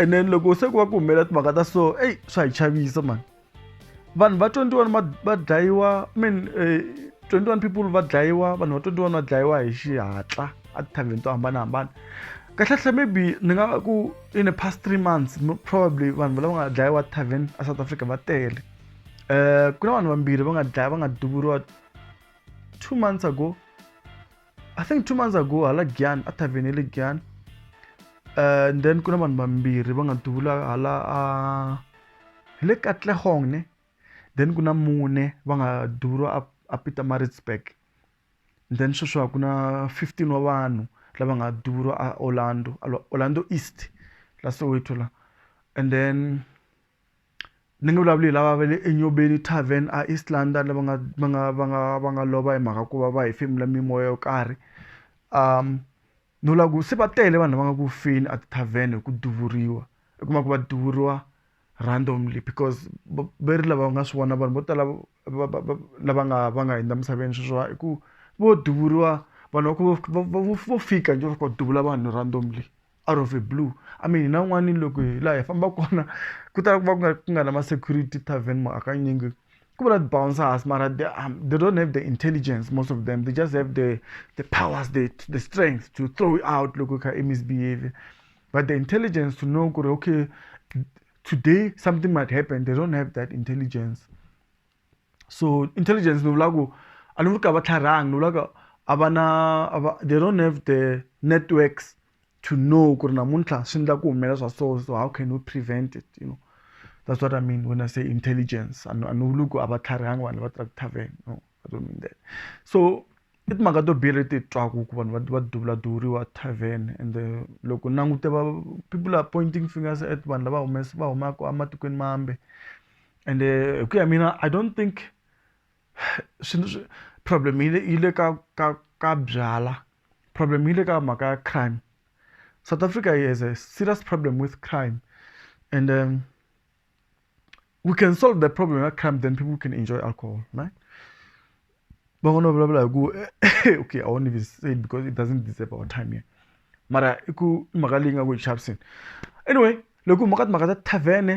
and then loko se ku va ku humelela timhaka ta so eyi swa hi chavisa mani vanhu va 21 va dlayiwa mean eh, 21 people va dlayiwa vanhu va 21 va dlayiwa hi xihatla a tithavheni to hambanahambana kahlekahle maybe ni nga ku in a past three months probably vanhu lava nga dlayiwa tithavhen a south africa va tele um ku na vanhu vambirhi va nga dlaya va nga duvuriwa two months ago i think two months ago hala gyan a tavern ya le gyan uh, and then ku na vanhu vambirhi va nga duvula hala a hi le katlehong ne then ku na mune va nga duvuriwa a, a peter maritzburg then sweswi ku na 15 wa vanhu lava nga duvuriwa a orlando orlando east la soweto la and then ni nge vulavuli hi lava va le eNyobeni tarven a East London lava nga va nga va nga va nga lova hi mhaka ku va va hefemula mimoya yo karhi no vula ku se va tele vanhu lava nga ku feni a ti-tarven hi ku duvuriwa u kuma ku va duvuriwa randomly because va ve ri lava nga swi vona vanhu vo tala va va va lava nga va nga hundza emisaveni sweswiwa hi ku vo duvuriwa vanhu va ku vo fika njhe va fika va duvula vanhu randomly. out of a blue I mean hina van'wani loko hi laha hi famba kona ku tala ku va ku nga ku nga na ma security tarven ma hakanyingi ku va na ti bouncers mara they they don't have the intelligence most of them they just have the the powers the the strength to throw you out loko u kha i misbehave but the intelligence to know ku ri okay today something might happen they don't have that intelligence. so intelligence ni vula ku a ni vuli ka va tlharhangi ni vulaka a va na a va they don't have the networks to know ku ri namuntlha swi endla ku humelela swa so so how can we prevent it you know that's what i mean when i say intelligence a ni vuli ku a va tlharihanga vanhu va tirha tithaveni no i don't mean that so i timhaka to biha leti twaku ku vanhu va duvula duvuriwa tavern and uh, loko langute va people are pointing fingers at vanhu lava humesa va humaka ematikweni mambe ende hi ku ya mina I don't think problem yi le yi le ka ka ka byalwa problem yi le ka mhaka ya crime South Africa yi has a serious problem with crime and then we can solve the problem ya crime then people can enjoy alcohol right van'wana va vulavula hi ku okay I won't even say it because it doesn't deserve our time here mara i ku i mhaka leyi nga ku chaviseni anyway loko hi huma ka timhaka ta tavern-e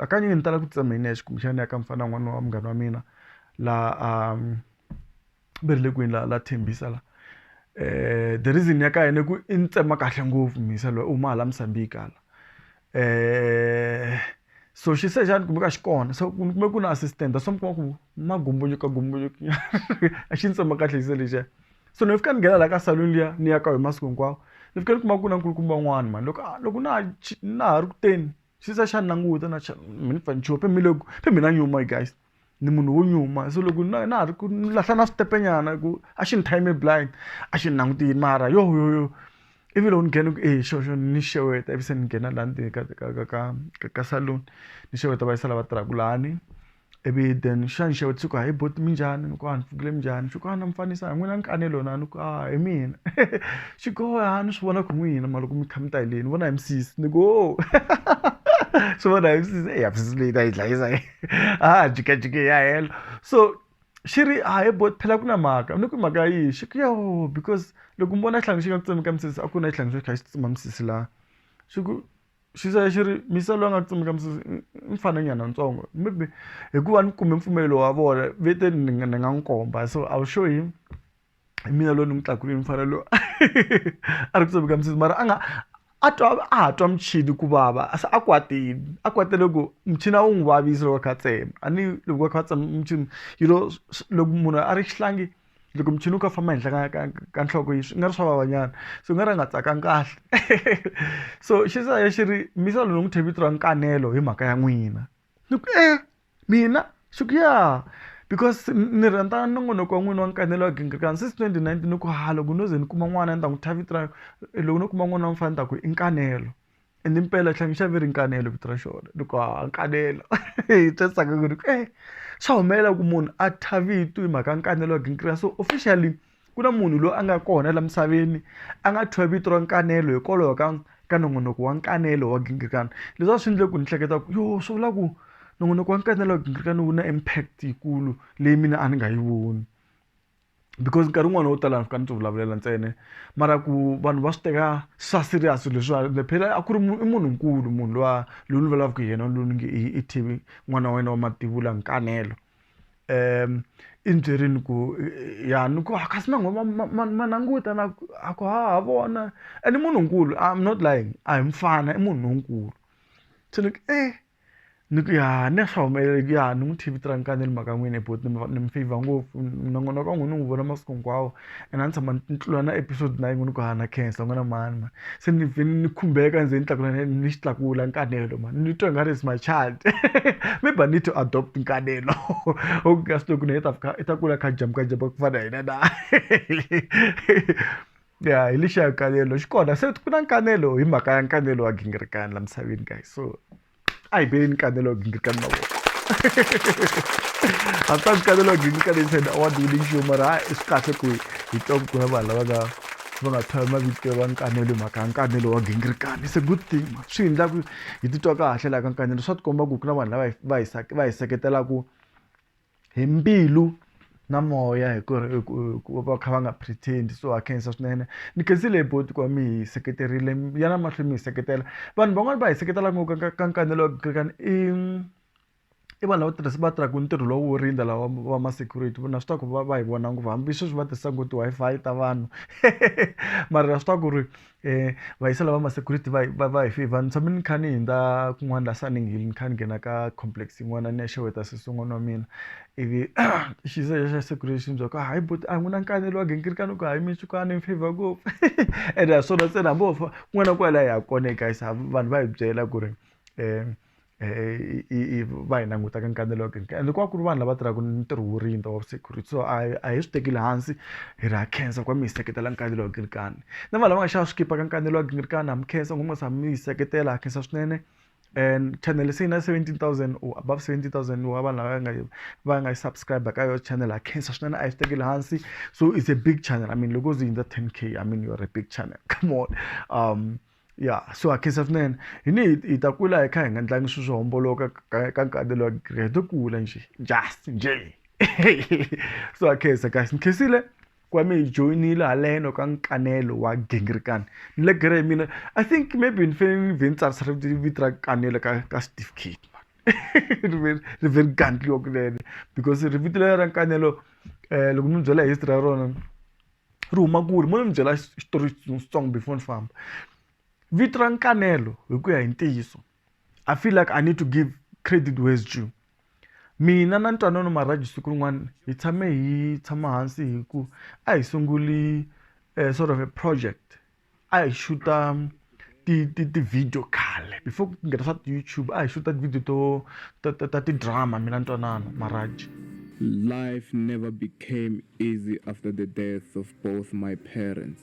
hakanyingi ni tala ku titshemba hi nexe kumbexana ni ya ka mufana na n'wana wa munghana wa mina laha a va ri le kwini la la Tembisa la the reason ya ka yena i ku i ni tsema kahle ngopfu Mhisa loyi u huma hala Musambiki hala so xi se xana kumbe ku nga xi kona so ni kume ku na assistant that's why mi kuma ku ma gomboloka gomboloka a xi ni tsema kahle xi se lexiya so ni fika ni nghena la ka saluni liya ni ya ka yona masiku hinkwawo ni fika ni kuma ku na nkulukumba un'wana mhani loko a loko na ha na ha ri ku teni. xi za xa languta na xa mi ni pfanha xo mi loko se mina nyuma guys ni munhu wo nyuma se loko na na ha ri ku ni lahla na switepe nyana hi ku a xi ni time blind a xi ni langutile mara yohoyoyo ivi loko ni nghena ku e xo xo ni xeweta ivi se ni nghena laha ndzeni ka ka ka ka ka ka salon ni xeweta va yisa lava tirhaka lani. ivi then xana nxavo u tshuka hi boti minjhani ni ku a ni pfukile minjhani xi ku a na mi fanisa hi n'wina ni kane lona a ni ku a hi mina xi ku a ni swi vona ku n'wina mara loko mi kha mi ta hi le ni vona hi misisi ni ku o swi vona hi misisi eya misisi leyi ta hi dlayisa leyi a ha ha jikajiki hi ya helo so xi ri a hi boti phela ku na mhaka ni ku mhaka ya yini xi ku yoh because loko mi vona xihlangi xi nga tsutsumi ka misisi a ku na xihlangi xo xi kha xi tsutsuma misisi la xi ku xi za xi ri misa loyi a nga tsumeka misisi i mfana nyana ntsongo maybe hikuva ni kume mpfumelo wa vona ve te ni nga ni nga n'wi komba so I will show him hi mina loyi ni n'wi tlakuleni mufana loyi a ri ku tsumeka misisi mara a nga a twa a ha twa muchini ku vava se a kwatile a kwatele ku muchini a wu n'wi vavisa loko a kha a tsema a ni loko a kha a tsema muchini yi lo loko munhu a ri xihlangi. loko muchini wu ka famba henhla ka ka ka nhloko yi swi nga ri swa vavanyana so u nga ri a nga tsakanga kahle so xi za xi ri misa loyi ni n'wi thya vito ra nkanelo hi mhaka ya n'wina ni ku e mina xi ku ya because ni rhandza nongonoko wa n'wina wa nkanelo wa gingirikani since twenty nineteen ni ku ha loko no ze ni kuma n'wana ni ta n'wi thya vito ra loko no kuma n'wana wa mufana ni ta ku i nkanelo. ende impela tlhangi xa ve ri nkanelo vito ra xona loko ha nkanelo hi twesaka ku ri ku e swa humelela ku munhu a thya vito hi mhaka nkanelo wa gingiriyasi so officially ku na munhu loyi a nga kona laha misaveni a nga thyiwa vito ra nkanelo hikwalaho ka ka nongonoko wa nkanelo wa gingirikani leswi a swi endle ku ni hleketa ku yo swi vula ku nongonoko wa nkanelo wa gingirikani wu na impact yikulu leyi mina a ni nga yi voni because nkarhi wun'wani wo tala ni fika ni ti vulavulela ntsena mara ku vanhu va swi teka swa serious swilo leswiwa phela a ku ri i munhu nkulu munhu luwa loyi ni vulavulaka hi yena loyi ni nge i i T_V n'wana wa wena wa mativula Nkanelo i ni byerile ku ya ni ku a kasi ma ma ma ma ma languta na ku a ku ha ha vona and i munhu nkulu I'm not lying a hi mufana i munhu lonkulu se ni ku e. ni ku ya ni swa humelela ku ya ni n'wi tv tirankani ni ri mhaka n'wini but ni ni mi favor ngopfu nongonoko wa n'wina ni wu vona masiku hinkwawo and a ni tshama ni tlula na episode na yin'we ni ku ha na khensa ni vona mhani mhani se ni vhe ni khumbeka ni ze ni tlakula ni xi tlakula nkanelo mhani ni twa i nga ri is my child maybe I need to adopt nkanelo u nga swi tivi ku na yena i ta fika i ta kula a kha a jump-a jump-a ku fana na hina na. ya hi lexi ya nkanelo xi kona se ku na nkanelo hi mhaka ya nkanelo wa gingirikani la misaveni guys so a hi beni nkanelo wa gingirikani mavoko hambi nkanelo wa gingirikani yi said award winning show mara ha i swi kahle ku hi twa ku kuna vanhu lava nga va nga thwali mavito va nkanelo mhaka ya nkanelo wa gingirikani se good thing swi endla ku hi titwa kahle laha ka nkanelo swa tikomba ku ku na vanhu lava va hi va hi seketelaka hi mbilu na moya hi ku ri ku ku va kha va nga pretend so ha khensa swinene ni khensile hi buti ku va mi hi seketerile ya na mahlweni mi hi seketela vanhu van'wani va hi seketela ngopfu ka ka ka i i vanhu lava tirhisa va tirhaka ntirho lowu wo rindza lava va ma security na swi tiva ku va va hi vona ngopfu hambi sweswi va tirhisa ku ti-Wi-Fi ta vanhu mara swi tiva ku ri eh vaisa lava ma security va va va hi favor ni tshame ni kha ni hindza kun'wana la Sunning Hill ni kha ni nghena ka complex yin'wana ni ya xeweta sesi n'wana wa mina ivi xiza xa security xi ni byela ku hayi buti a n'wina nkanelo wa gingirikani ku hayi mi xikwana mi favor ngopfu ene ha swona ntsena hambi wo fa kun'wana na kun'wana laha hi ya kona guys vanhu va hi byela ku ri um i va hi languta ka nkambelo wa kereke ende ku va ku ri vanhu lava tirhaka ntirho wo rindza wa security so a hi a hi swi tekeli hansi hi ri ha khensa ku va mi hi seketela nkambelo wa nkilikani na vanhu lava nga xava swikipa ka nkambelo wa nkilikani ha mi khensa ngopfu mi nga tshami mi hi seketela ha khensa swinene and chanele se yi na seventeen thousand or above seventeen thousand wa vanhu lava nga yi va nga yi subscribe ka yona channel ha khensa swinene a hi swi tekeli hansi so it's a big channel I mean loko yo ze yi hundza ten K I mean you're a big channel come on . ya so akhensa swinene hi ni hi ta kula hi kha hi nga ndlangi swilo swo homboloka ka nkarhi lowa hi to kula nje just nje so akhensa kasi ni khensile ku va mi hi joyinile haleno ka nkanelo wa gingirikani ni le gere hi mina i think maybe ni fanele ni vhe ni tsarisa vito ra kanelo ka ka certificate ri ve ri ve ri gandliwa kunene because ri vito leri ra nkanelo um loko mi byela history ya rona ri huma kule mo ni mi byela xitori xitsongo before ni famba vito ra nkanelo hi ku ya hi ntiyiso i feel like i need to give credit where is due mina na ntwanano marhaji siku rin'wana hi tshame hi tshama hansi hi ku a hi sunguli sort of a project. a hi xuta ti ti ti-video khale before ku nghena swa ti-YouTube a hi xuta ti-video to ta ta ta ti-drama mina ntwanano Maraji. Life never became easy after the death of both my parents.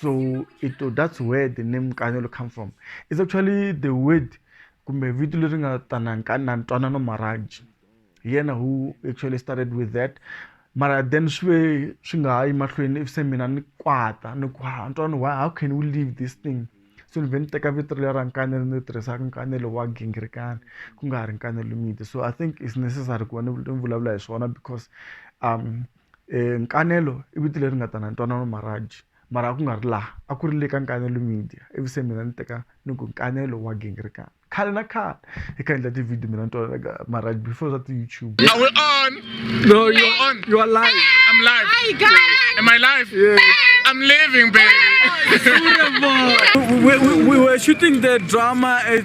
So ito that's where the name Nkanyolo come from. It's actually the word kumbe vito leri nga tana nkana ntwanano marriage. Yena who actually started with that. Mara then swi swi nga ha yi mahlweni if se mina ni kwata ni ku ha ntwanano why how can we leave this thing? So ni vhe ni teka vito leri ra nkanelo ni tirhisaka nkanelo wa gingirikani ku nga ha ri nkanelo miti. So I think it's necessary ku va ni vulavula hi swona because um Nkanelo i vito leri nga ta na ntwanano maribye mara a ku nga ri laha a ku ri le ka Nkanelo Media ivi se mina ni teka ni ku Nkanelo wa gingirikani khale na khale hi kha hi endla ti-video mina ni twanana ka maribye before swa ti-YouTube Are we on? No, you are on. You are live. I'm live. Hi guys. Am I live? Yeah. I'm living, baby. we, we, we were shooting the drama at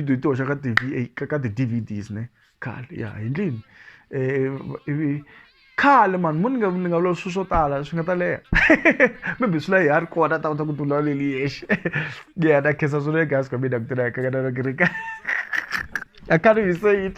video yi ti hoxa ka ti ka ka ti-D_V_Ds ne khale ya hi ndlini ivi khale mani mo ni nga ni nga vula swilo swo tala swi nga ta leha maybe swi la hi ha ri kona ta kota ku ti vulavuleli yexe ya ta khensa swilo le gasi ka mina ku tirha ka ka na ku ri ka I can't even say it